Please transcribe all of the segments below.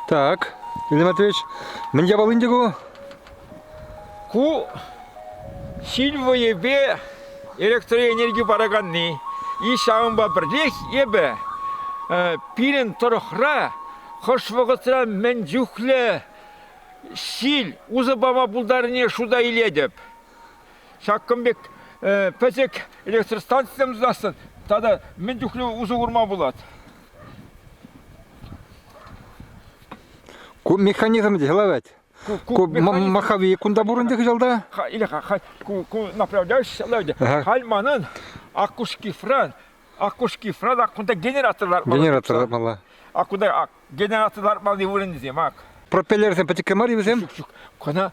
Так, Илья Матвеевич, мӗн япалин те ку? Ку сильвоепе электроэнерги параканни. И ҫавӑнпа пӗрлех эпӗ пирӗн тӑрӑхра хӑш вӑхӑтра мӗн чухлӗ Ҫил усӑ пама пултарнине шута илетӗп. Ҫакӑн пек пӗчӗк электростанцисем тунасшӑн тата мӗн чухлӗ усӑ курма пулать? Ку механизм те ларать. Ку маховые кунта пур ӗнтӗ кӑҫалта? Или ку направляющийся ларать. Халь манӑн акушкифран Акушки сразу кунта генератор лартмалла. Генератор лартмалла. А кунта генератор лартмалли вырӑнсем ак. Пропеллерсем пӗчӗккӗ мар вӗсем? Ҫук, ҫук. Кана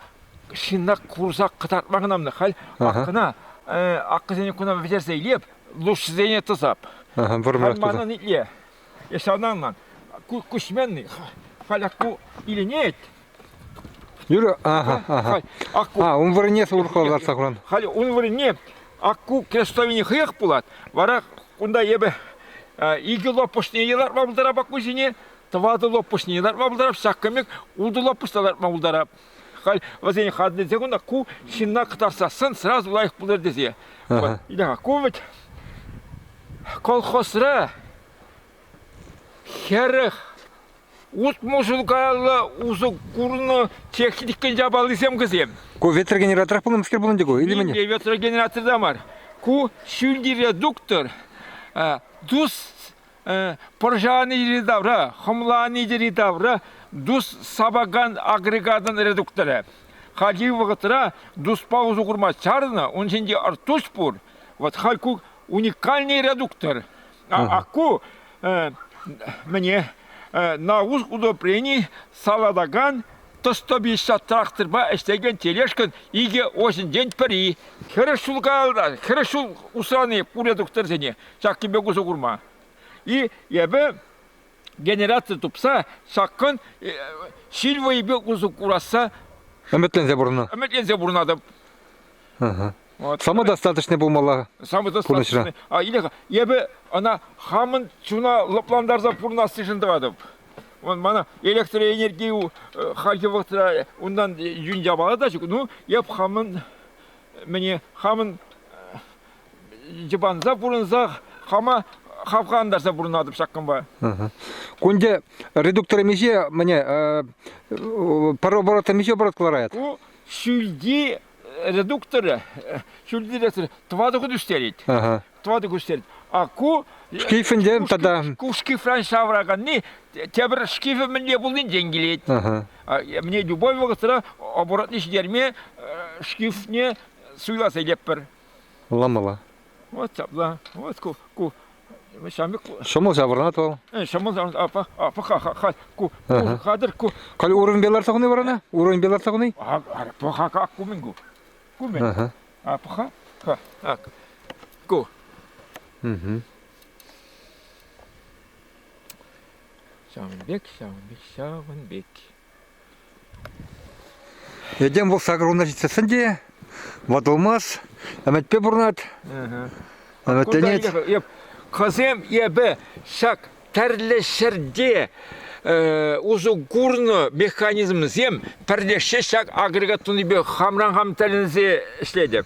шинна курса кӑтартма хӑнамна. Халь аккана аккасене куна вӗтерсе илеп, лушсене тӑсап. Ага, вырмарах туда. Манан итле. Если анан ман кучменный, халяку иленет, Юрӗ, ага, ага. А, ун вырӑнне сурхал лартса куран. Халӗ ун вырӑнне акку крестовини хӑех пулать. Вара кунта эпӗ икӗ лопушне лартма пултарап аккусене, тӑватӑ лопушне лартма пултарап, ҫак кӗмек утӑ лопуш та лартма пултарап. Халь вӗсен хатне те кунта ку ҫынна кӑтартсассӑн сразу лайӑх пулӑр тесе. Вот, ку вӗт колхозра хӗрӗх Утмӑлшӑн каялла усӑ курнӑ техникӑн япалисем кӗсем. Ку ветрогенераторах пулнӑскер пулнӑ ку, илтӗмӗн? Не ветрогенераторда мар. Ку ҫӳлти редуктор дус пӑрҫанидери тавра, хӑмланидери тавра дус сапакан агрегатӑн редукторӗ. Хальхи вӑхӑтра дуспа усӑ курма чарнӑ, ун ҫинче артуш пур. Вот хай ку уникальный редуктор. Ку мне на удобрении салатакан 150 тракторпа ӗҫлекен тележкӑн икӗ осӗнчен пӗри. Хӗрӗш ҫул каялла, хӗрӗш ҫул усрани пурӗ тухтӑрсене ҫак кӗпе усӑ курма. И эпӗ генератор тупса ҫакӑн ҫил вӑйӗпе усӑ курасса ӗмӗтленсе пурӑннӑ. Ӗмӗтленсе пурӑнатӑп. Вот. Самый достаточный пулмалла Самый достаточный. А, Илеха, эпӗ ӑна хамӑн чуна лӑплантарса пурӑнассишӗн тӑратӑп. Он мана электроэнерги э, хальхи вӑхӑтра унтан юн явалатач. Ну, эп хамӑн мӗне хамӑн йӑпанса пурӑнса хама хавхантарса пурӑнатӑп ҫакӑнпа. Кунде редуктор миҫе, міне, пар оборот миҫе оборот кӑларает? Ку ҫӳлти редукторӗ ҫӳлтӗресӗр тӑватӑ хут ӳстерет. Тӑватӑ хут ӳстерет. А ку... Шкифӗнчен тата... Ку шкифран ҫавраканни тепӗр шкифӗ мӗнле пулнинчен килет. Мне любой вӑхӑтра оборотный ҫитерме шкифне суйласа илетпӗр. Ламала. Вот ҫапла, вот ку, ку ҫамрӑк. Ҫӑмӑл ҫаврӑнать вӑл. Ҫӑмӑл ҫаврӑнать, апа, апа, ха, ку, ку, хатӗр, ку. Калі уровеньпе ларса хуни варана? Уровеньпе ларса хуни? Паха, как кумен ку. Кумен. А паха, ха, так, ку. Угу. Ҫавӑн пек, ҫавӑн пек, ҫавӑн пек. Этем вӑл сакӑрвунна ҫитсессӗн те ватӑлмасть, ӗмӗтпе пурӑнать. Ӗмӗтленет. Хӑсем эпӗ ҫак тӗрлӗ ҫӗрте усӑ курнӑ механизмсем пӗрлешсе ҫак агрегат тунипе хамран хам тӗлӗнсе ӗҫлетӗп.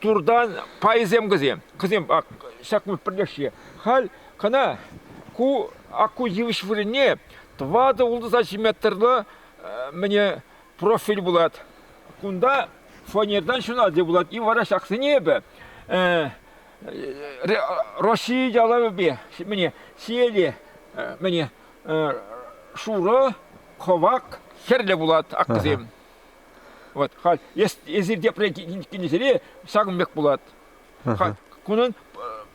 туртан пайсем кӗсем. Кӗсем ак ҫак пӗрлешсе. Халь кӑна ку акку йывӑҫ вырӑнне тӑватӑ-ултӑ метрлӑ мӗне профиль пулать. Кунта фанертан ҫунать пулать. И вара ҫаксене эпӗ Россия ялавӗпе мӗне сиеле мӗне шурӑ, хӑвак, хӗрлӗ пулать аккасем. Вот, халь, если тепре кинӗсене ҫакӑн пек пулать. Халь, кунӑн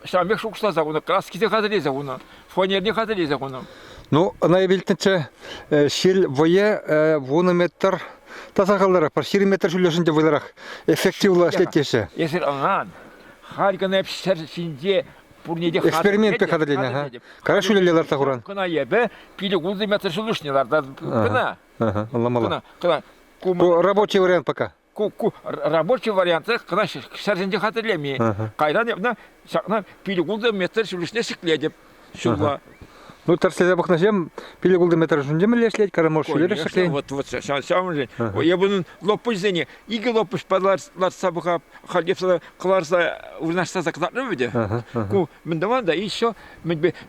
ҫавӑн пек шухӑшласа хунӑ, краскисе хатӗрлесе хунӑ, фанерне хатӗрлесе хунӑ. Ну, ӑна илтнӗччӗ, ҫил вӑйӗ вунӑ метр та сахалрах, пӗр ҫирӗм метр ҫӳллӗшӗн те вӑйлӑрах, эффективлӑ ӗҫлетеҫҫӗ. Эсир ӑна халь кӑна ҫӗр ҫинче пурне те экспериментпе хатӗрленӗ, ха? Кара ҫӳлелле ларса хуран. Кӑна эпӗ пилӗк-ултӑ метр ҫӳллӗшне лартатӑп кӑна. Ага, ӑнламалла. Кӑна, ку рабочий вариант пока. Ку, ку рабочий варианты кӑна ҫӗрсенче хатӗрлеми. Кайран эпне ҫакна пилӗкултӑ метр ҫулӑшне ҫӗклетӗп ҫулла. Ну, тӗрӗслесе пӑхнӑҫем пилӗкултӑ метр ҫунче мӗнле ӗҫлет, кормош ҫӳлере ӗҫлет. Вот, вот, ҫавӑншӑн. Эпунӑн лопуҫсене икӗ лопуҫ лартса пӑхап, хальтепсе кӑларса вырнаҫтарса кӑтартнӑ вӗте. Ку мӗн тӑван та еще,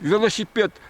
велосипед